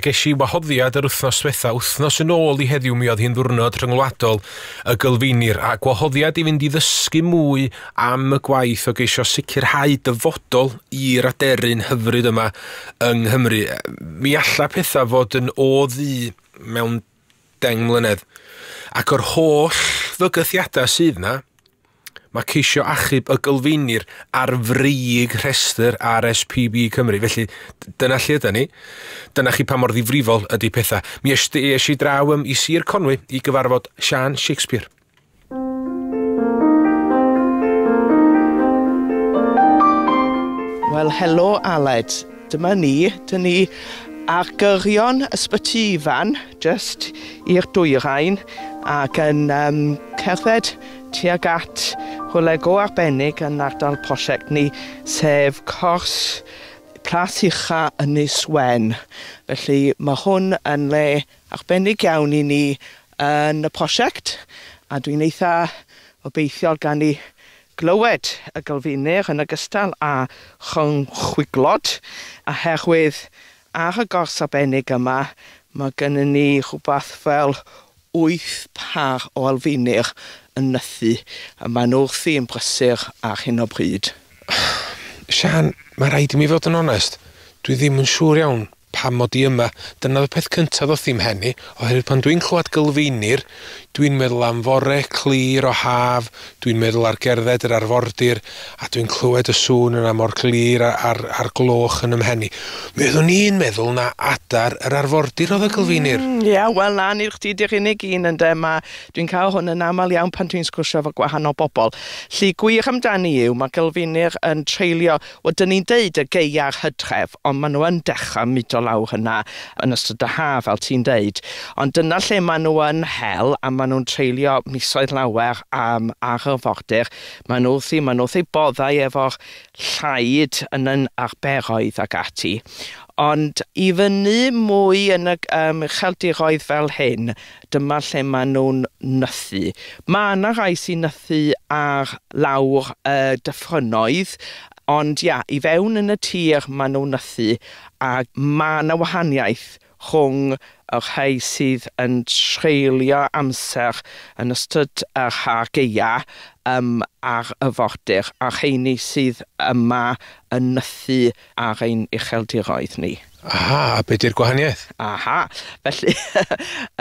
Ges i wahoddiad yr wythnos diwetha, wythnos yn ôl i heddiw mi oedd hi'n ddwrnod rhyngwladol y gylfinir, a gwahoddiad i fynd i ddysgu mwy am y gwaith o geisio sicrhau dyfodol i'r aderyn hyfryd yma yng Nghymru. Mi alla pethau fod yn o ddu mewn 10 mlynedd. Ac o'r holl fygythiadau sydd 'na, mae ceisio achub y gylfeinir ar frig rhestr RSPB Cymru. Felly, dyna lle yda ni. Dyna chi pa mor ddifrifol ydy pethau. Mi es i draw ym, i Sir Conwy i gyfarfod Sian Shakespeare. Wel, helo Aled. Dyma ni. Dyna ni ar gyrion Ysbyty Ifan, just i'r dwyrain, ac yn um, cerdded tuag at hwle go arbennig yn ardal prosiect ni, sef cors Plas Ucha Ynys Wen. Felly mae hwn yn le arbennig iawn i ni yn y prosiect a dwi'n eitha obeithiol gan i glywed y gylfinir yn ogystal â chynchwyglod oherwydd ar y gors arbennig yma mae gynnon ni rhywbeth fel wyth pâr o elfinir yn nythu a maen nhw wrthi yn brysur ar hyn o bryd. Siân, mae rhaid i mi fod yn onest, dwi ddim yn siŵr iawn. Pam mod i yma? Dyna oedd y peth cyntaf ddoth i'm mhen i, oherwydd pan dwi'n clywed Gylfeinir, dwi'n meddwl am fore clir o haf, dwi'n meddwl ar gerdded yr arfordir, a dwi'n clywed y sŵn yna mor glir a'r a'r gloch yn 'y mhen i. Mi oeddwn i'n meddwl na adar yr arfordir oedd y Gylfeinir. Mm, ie, wel na, nid chdi di'r unig un ynde, ma' dwi'n cael hwn yn aml iawn pan dwi'n sgwrsio efo gwahanol bobl. Llu gwych amdani yw, ma' Gylfeinir yn treulio Wel, 'dyn ni'n deud y gaeaf Hydref, ond maen nhw yn dechrau mudo lawr yna yn ystod y haf, fel ti'n deud. Ond dyna lle maen nhw yn hel, a maen nhw'n treulio misoedd lawer um, ar yr fordir. Maen nhw wrthi, maen nhw wrthi boddau efo'r llaid yn yn arberoedd ac ati. Ond i fyny mwy yn y um, cheldiroedd fel hyn, dyma lle maen nhw'n nythu. Mae yna rhai sy'n nythu ar lawr y dyffrynnoedd, ond ia, i fewn yn y tir maen nhw'n nythu, a mae yna wahaniaeth rhwng y rhai sydd yn treulio amser yn ystod yr ha geia um, ar y fordir, a'r rheini sydd yma yn nythu Ar ein ucheldiroedd ni. Aha, a be di'r gwahaniaeth? Aha, felly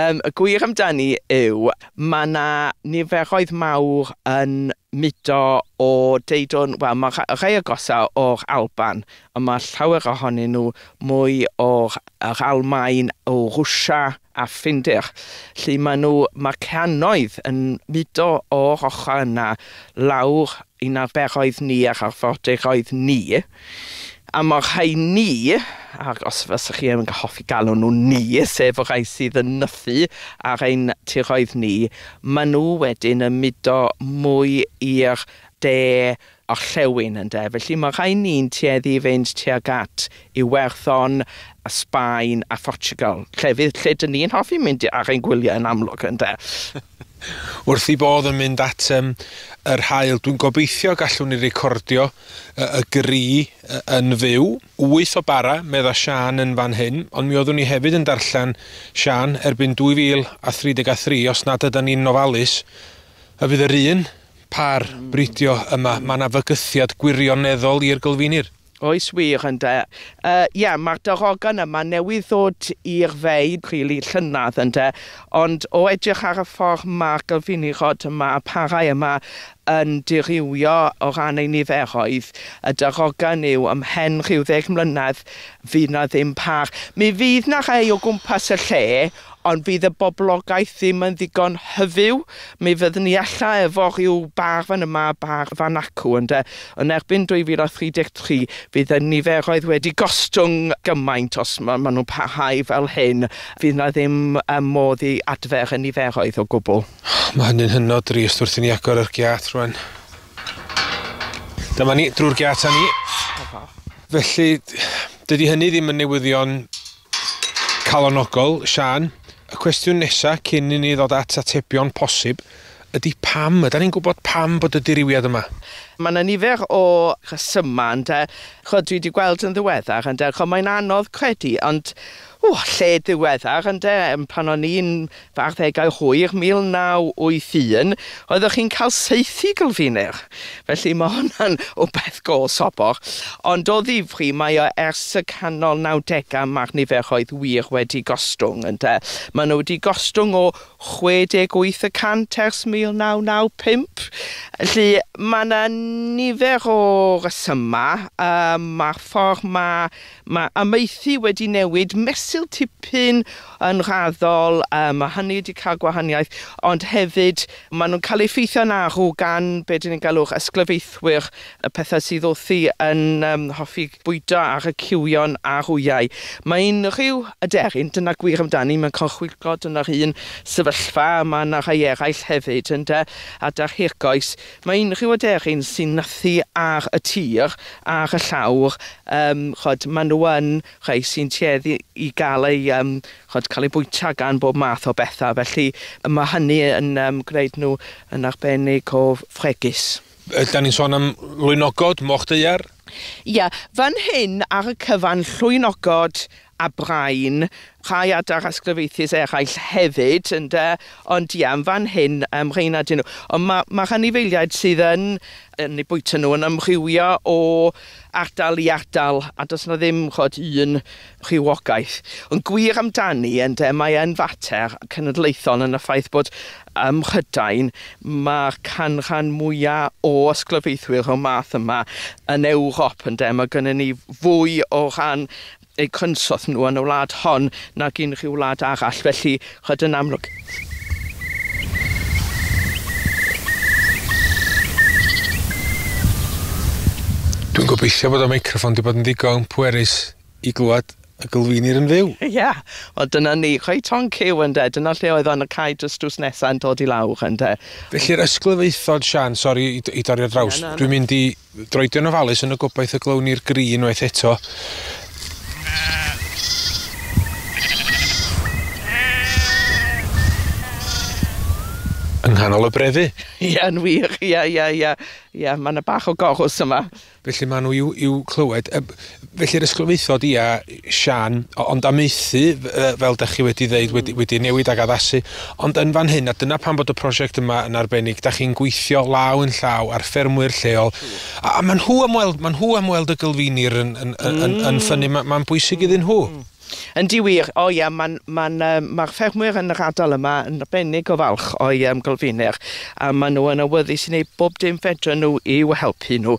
um, y gwir amdani yw mae yna niferoedd mawr yn mudo o deudwn, wel mae rhai agosau o'r Alban, ond mae llawer ohonyn nhw mwy o'r yr Almaen, o Rwsia a Ffindir, lle mae nhw, mae cannoedd yn mudo o'r ochr yna lawr Yn arfer oedd ni ac arfordir oedd ni. A mae'r rhai ni, ac os fysa chi yn hoffi galw nhw ni, sef y rhai sydd yn nythu ar ein tiroedd ni, maen nhw wedyn yn mudo mwy i'r de orllewin ynde, felly mae'r rhai ni'n tueddu i fynd tuag at Iwerddon, a Sbaen a Phortiwgal, llefydd lle dyn ni yn hoffi mynd ar ein gwyliau yn amlwg, ynde? Wrth ei bodd yn mynd at yr haul, dwi'n gobeithio gallwn ni recordio y gri yn fyw. Wyth o bara, medda Siân yn fan hyn, ond mi oeddwn i hefyd yn darllen, Siân, erbyn 2033, os nad ydan ni'n ofalus, y bydd yr un pâr bridio yma. Mae 'na fygythiad gwirioneddol i'r gylfinir. Oes wir, ynde. Yy, ie, mae'r darogan yma newydd ddod i'r fe i rili llynedd, ynde, ond o edrych ar y ffordd mae'r gylfinirod yma, y parau yma, yn dirywio o ran eu niferoedd, y darogan yw, ymhen rhyw ddeg mlynedd, fydd 'na ddim par. Mi fydd 'na rhai o gwmpas y lle, Ond fydd y boblogaeth ddim yn ddigon hyfyw, mi fyddwn ni ella efo rhyw bâr fan yma a bâr fan acw, ynde. Yn erbyn 2033, fydd y niferoedd wedi gostwng gymaint, os ma- maen nhw'n parhau fel hyn, fydd 'na ddim yym modd i adfer y niferoedd o gwbl. Mae hynny'n hynod drist wrth i ni agor yr giât rwan. Dyma ni, drwy'r giât â ni. Felly, dydy hynny ddim yn newyddion Calonogol, Siân, y cwestiwn nesa cyn i ni ddod at atebion posib ydi pam? Ydan ni'n gwybod pam bod y dirywiad yma? Mae yna nifer o resymau ynde. Ch'od dwi 'di gweld yn ddiweddar ynde, ch'od mae'n anodd credu ond, ww, lle diweddar ynde, pan o'n i'n Fy arddegau hwyr, 1981, oeddech chi'n cael saethu Gylfinir, felly mae hwnna'n wbeth go sobor. Ond o ddifri, mae o ers y canol nawdegau, mae'r niferoedd wir wedi gostwng, ynde. Maen nhw wedi gostwng o 68 y cant ers 1995. Felly, mae yna nifer o resymau. Mae'r ffordd mae Mae amaethu wedi newid mesul tipyn yn raddol, yym, a hynny wedi cael gwahaniaeth, ond hefyd maen nhw'n cael eu effeithio'n arw gan be dyn ni'n galw'r ysglyfaethwyr, y pethau sydd wrthi yn yym hoffi bwydo ar y ciwion a'r wyau. Mae unrhyw aderyn, dyna gwir amdani, mewn corchwyglod yn yr un sefyllfa, a mae yna rhai eraill hefyd, ynde, adar hirgoes, Mae unrhyw aderyn sy'n nythu ar y tir, ar y llawr, yym, ch'od, ma' nhw yn rhai sy'n tueddu i gael eu, yym, ch'od, cael eu bwyta gan bob math o bethau, felly ma' hynny yn yym gwneud nhw yn arbennig o fregus. Ydan ni'n sôn am lwynogod, moch daear? Ie, fan hyn ar y cyfan, llwynogod a Brain, rhai adar a sglereithiaid eraill hefyd, ynde, ond ie, yn fan hyn, um, rheina dyn nhw. Ond mae, mae rhanifeiliaid sydd yn, yn eu bwyta nhw yn ymrhywio o ardal i ardal, a does yna ddim chod un rhywogaeth. Yn gwir amdani, ynde, mae yn fater cenedlaethol yn y ffaith bod ym Mhrydain mae'r canran mwyaf o ysglyfaethwyr o'r math yma yn Ewrop, ynde, mae gennym ni fwy o rhan eu cynsail nhw yn y wlad hon nag unrhyw wlad arall, felly ch'od yn amlwg. Dwi'n gobeithio bod y meicroffon wedi bod yn ddigon pwerus i glywed y gylfinir yn fyw. Ie, yeah. wel dyna ni, chwe ton cyw ynde, dyna lle oedd o'n y cae dros drws nesaf yn dod i lawr ynde. Felly'r ysglyfaethod, Sian, sori i, i dorri ar draws, yeah, no, no. dwi'n mynd i Droedio'n ofalus yn y gobaith y glywn ni'r gri unwaith eto. Yng nghanol y brefu. Ie, yn wir. Ie, ie, ie. Ie, mae yna bach o gorws yma. Felly maen nhw i'w clywed. Felly yr ysglyfaethod ia Siân, ond amaethu fel dach chi wedi ddeud wedi wedi newid ag addasu, ond yn fan hyn a dyna pam bod y prosiect yma yn arbennig, dach chi'n gweithio law yn llaw â'r ffermwyr lleol a a ma' nhw am weld ma' nhw am weld y gylfinir yn yn yn yn ffynnu, ma' ma'n bwysig iddyn nhw. Yndi wir, o ia, mae'n, mae'n, um, mae'r ffermwyr yn yr ardal yma yn arbennig o falch o'i um, golfiner, a maen nhw yn awyddus i wneud bob dim fedrwn nhw i'w helpu nhw.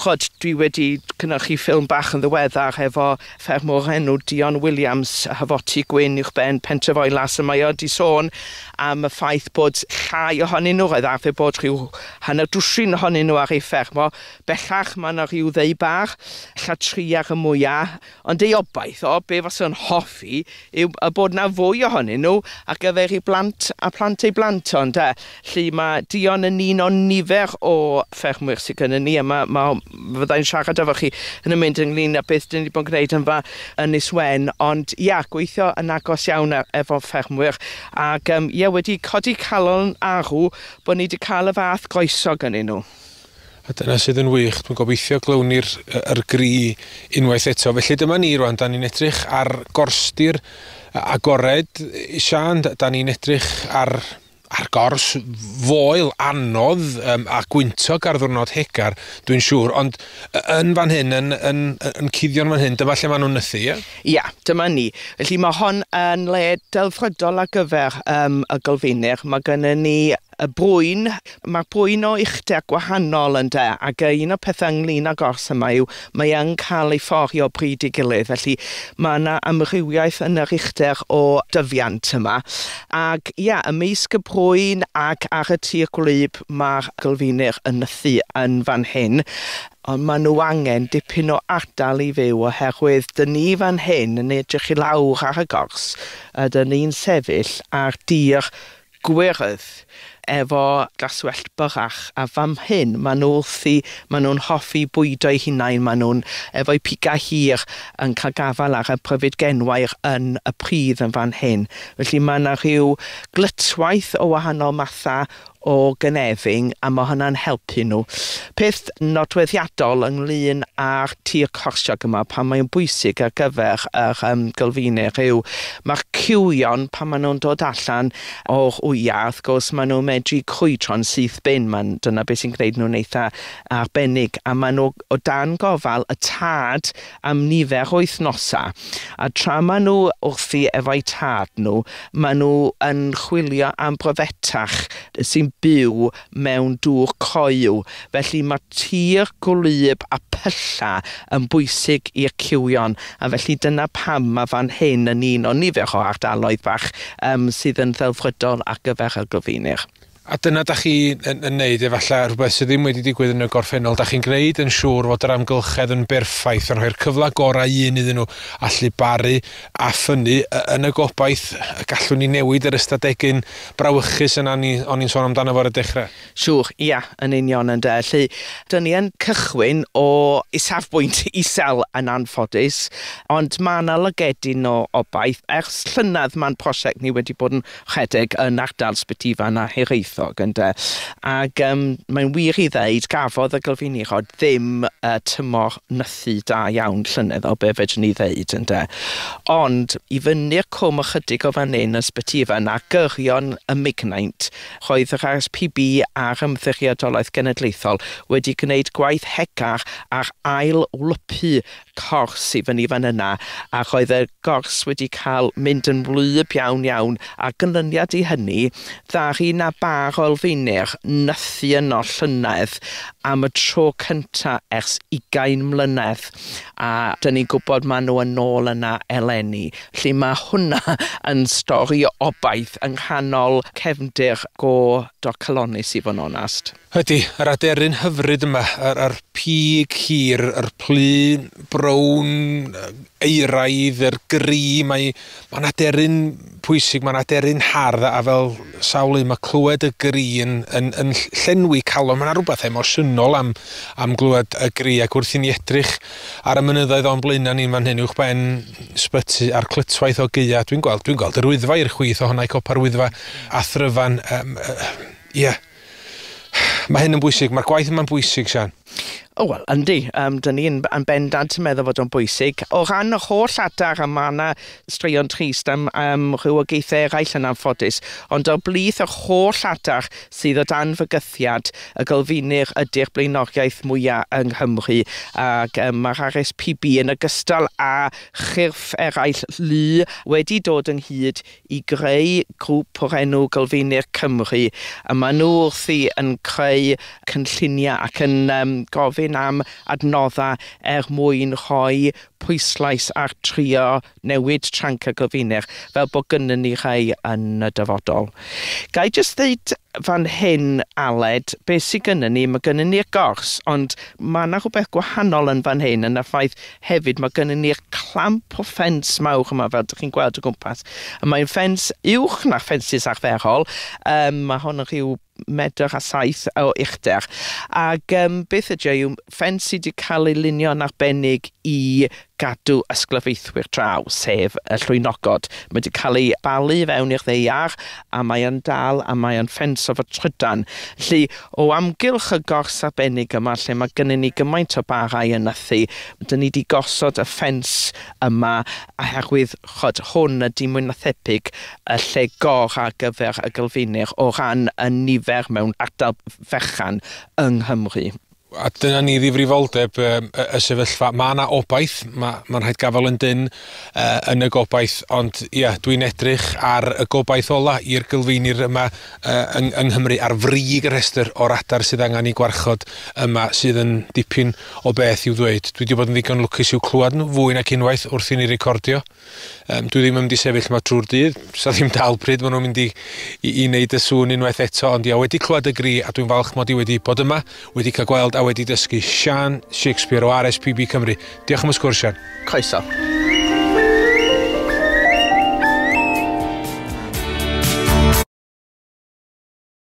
Chod, dwi wedi cynhyrchu ffilm bach yn ddiweddar efo ffermwr o'r enw Dion Williams, Hafoti Gwyn uwch ben pentref Oelas, a mae o wedi sôn am y ffaith bod llai ohonyn nhw, roedd arfer bod rhyw hanner dwsin ohonyn nhw ar ei ffermo. Bellach mae yna rhyw ddeu bar, llatriar y mwyaf, Ond ei obaith o, be fase o'n hoffi, yw y bod 'na fwy ohonyn nhw ar gyfer ei blant a phlant ei blant o, ynde? Felly ma' Dion yn un o nifer o ffermwyr sy gynnon ni, a ma' ma' o... fydda i'n siarad efo chi yn y mynd ynglyn â beth 'dyn ni 'di bod yn gwneud yn fa- Ynys Wen, ond ia, gweithio yn agos iawn e- efo ffermwyr, ac yym ia, wedi codi calon arw bod ni 'di cael y fath groeso gynnyn nhw. A dyna sydd yn wych, dwi'n gobeithio glywnir yr gri unwaith eto. Felly dyma ni rwan, da ni'n edrych ar gorstir agored. Sian, da ni'n edrych ar, ar gors foel anodd um, a gwyntog ar ddwrnod hegar, dwi'n siŵr. Ond yn fan hyn, yn, yn, yn cuddion fan hyn, dyma lle maen nhw'n nythu, ie? Ia, dyma ni. Felly mae hon yn le delfrydol ar gyfer um, y golfeinir. Mae gennym ni Y boen, mae'r boen o uchder gwahanol ynde, ac yy un o'r pethau ynglyn â gors yma yw mae yn cael ei ffori o bryd i gilydd, felly mae yna amrywiaeth yn yr uchder o dyfiant yma. Ac ia, ymysg y boen ac ar y tir gwlyb mae'r gylfinir yn nythu yn fan hyn, ond maen nhw angen dipyn o ardal i fyw oherwydd dyn ni fan hyn yn edrych i lawr ar y gors a dyn ni'n sefyll ar dir Gwyrdd, efo glaswellt byrrach, a fam hŷn, maen nhw wrthi, maen nhw'n hoffi bwydo'u hunain, maen nhw'n, efo'u pigau hir, yn cael gafael ar y pryfid genwair yn y pridd yn fan hyn. Felly mae yna rhyw glytwaith o wahanol mathau o gynefin, a mae hwnna'n helpu nhw. Peth nodweddiadol ynglŷn â'r tir corsiog yma, pan mae'n bwysig ar gyfer yr yym Gylfinir yw mae'r cywion pan maen nhw'n dod allan o'r wyau wrth gwrs maen nhw'n medru crwydro'n syth bin, maen, dyna beth sy'n gwneud nhw'n eitha arbennig a maen nhw o dan gofal y tad am nifer o wythnosau a tra maen nhw wrthi efo'u tad nhw maen nhw yn chwilio am brofetach sy'n byw mewn dŵr coyw, felly mae tir gwlyb a pyllau yn bwysig i'r cywion, a felly dyna pam mae fan hyn yn un o nifer o ardaloedd bach yym sydd yn ddelfrydol ar gyfer y Gylfinir. A dyna da chi yn, yn neud efallai rhywbeth sydd ddim wedi digwydd yn y gorffennol, da chi'n gwneud yn siŵr fod yr amgylchedd yn berffaith, yn rhoi'r cyfle gorau un iddyn nhw allu baru, a ffynnu yn y gobaith y gallwn ni newid yr ystadegyn brawychus yna o'n i'n sôn amdano fo ar y dechrau. Siŵr, ia, yn union ynde. Felly, dyn ni yn cychwyn o isafbwynt isel yn anffodus, ond mae yna lygedyn o obaith. Ers llynedd mae'n prosiect ni wedi bod yn rhedeg yn ardal Sbytyfan a Hiraethog ynde? Ac yym mae'n wir i ddeud gafodd y Gylfinirod ddim y tymor nythu da iawn llynedd o be fedrwn ni ddeud ynde? Ond i fyny'r cwm ychydig o fan hyn yn Sbytyfan a gyrion y Mignaint roedd yr RSPB a'r Ymddiriedolaeth Genedlaethol wedi gwneud gwaith hegar ar ail wlypu cors i fyny fan yna ac oedd y gors wedi cael mynd yn wlyb iawn iawn a gynlyniad i hynny ddaru na bar olfeinir nythu yno llynedd am y tro cynta ers ugain mlynedd a dyn ni'n gwybod maen nhw yn ôl yna eleni lle mae hwnna yn stori o obaith yng nghanol cefndir go docalonnus i fod yn onast. Ydy, yr aderyn hyfryd yma, yr, yr pig hir, yr plu brown euraidd, yr gri, mae, mae'n aderyn pwysig, mae'n aderyn hardd, a fel sawl un, mae clywed y gri yn, yn, yn llenwi calon. Mae'n rhywbeth emosiynol am, am glywed y gri, ac wrth i ni edrych ar y mynyddoedd o'n blaenau ni'n fan hyn, uwchben sbyty a'r clytwaith o geia, dwi'n gweld, dwi'n gweld yr wyddfa i'r chwith ohona i copa'r wyddfa a thryfan, um, uh, yeah. Mae hyn yn bwysig. Mae'r gwaith yma'n bwysig, Sian. O, wel, yndi. Um, dyn ni'n yn bendant yn meddwl fod o'n bwysig. O ran yr holl adar, a mae yna straeon trist am um, rhywogaethau eraill yn anffodus, ond o blith yr holl adar sydd o dan fygythiad y gylfinir ydy'r blaenoriaeth mwyaf yng Nghymru. Ac um, mae'r RSPB yn ogystal â chyrff eraill lu wedi dod ynghyd i greu grŵp o'r enw Gylfeinir Cymru, a maen nhw wrthi yn creu cynlluniau ac yn um, gofyn am adnoddau er mwyn rhoi pwyslais ar trio newid tranc y gylfinir, fel bod gynnyn ni rhai yn y dyfodol. Gai jyst ddeud fan hyn, Aled, beth sydd gynnyn ni, mae gynnyn ni'r gors, ond mae yna rhywbeth gwahanol yn fan hyn, yn y ffaith Hefyd, mae gennym ni'r clamp o ffens mawr yma, fel ydych chi'n gweld o gwmpas. A mae'n ffens uwch na ffensys arferol. Um, mae hon yn rhyw medr a saith o uchder. Ac um, beth ydy e? yw ffens sydd wedi cael ei lunio'n arbennig i gadw ysglyfaethwyr draw, sef y llwynogod. Mae wedi cael ei balu fewn i'r ddeiar a mae yn dal a mae yn ffens o fy trydan. Felly, o amgylch y gors arbennig yma lle mae gynnon ni gymaint o barau yn nythu, dyn ni 'di gosod y ffens yma oherwydd, ch'od, hwn ydi mwy na thebyg y lle gor ar gyfer y Gylfinir o ran y nifer mewn ardal fechan yng Nghymru. A dyna ni ddifrifoldeb um, y, y sefyllfa. Mae yna obaith, mae, ma rhaid gafael yn dyn uh, yn y gobaith, ond ia, dwi'n edrych ar y gobaith ola i'r gylfeinir yma uh, yng, yng Nghymru ar frig y rhestr o'r adar sydd angen i gwarchod yma sydd yn dipyn o beth i'w ddweud. Dwi wedi bod yn ddigon lwcus i'w clywed nhw fwy nac unwaith wrth i ni recordio. Um, dwi ddim yn mynd i sefyll yma trwy'r dydd, sa ddim dal pryd maen nhw'n mynd i, i, i wneud y sŵn unwaith eto, ond ia, wedi clywed y gri a dwi'n falch mod i wedi bod yma, wedi cael gweld a wedi dysgu Sian Shakespeare o RSPB Cymru. Diolch am y sgwrs, Sian. Croeso.